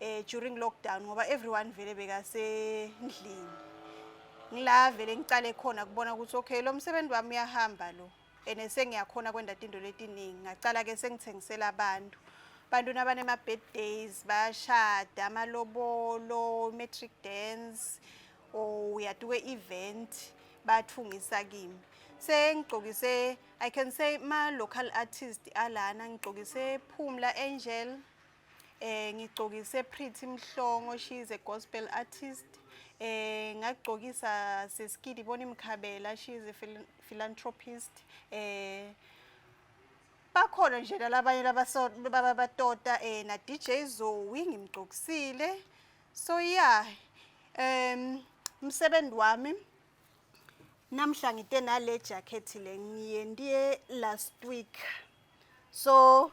eh during lockdown ngoba everyone vele bekasendlini ngila vele ngicale khona kubona ukuthi okay lo msebenzi wami uyahamba lo ene sengiyakhona kwenda into letiningi ngacala ke sengithengisela abantu abantu nabanema birthdays bayashada amalobolo matric dance or uyatuke event bathungisa kimi sengigcokise i can say ma local artist alana ngigcokise phumla angel eh ngigcokise Pretty Mhlongo she is a gospel artist eh ngagcokisa sesikidi bona imkhabela she is a philanthropist eh bakhona nje labanye lababatota eh na DJ Zoe ngimgcokisile so yeah um umsebenzi wami namhla ngite nale jacket le ngiye ndiye last week so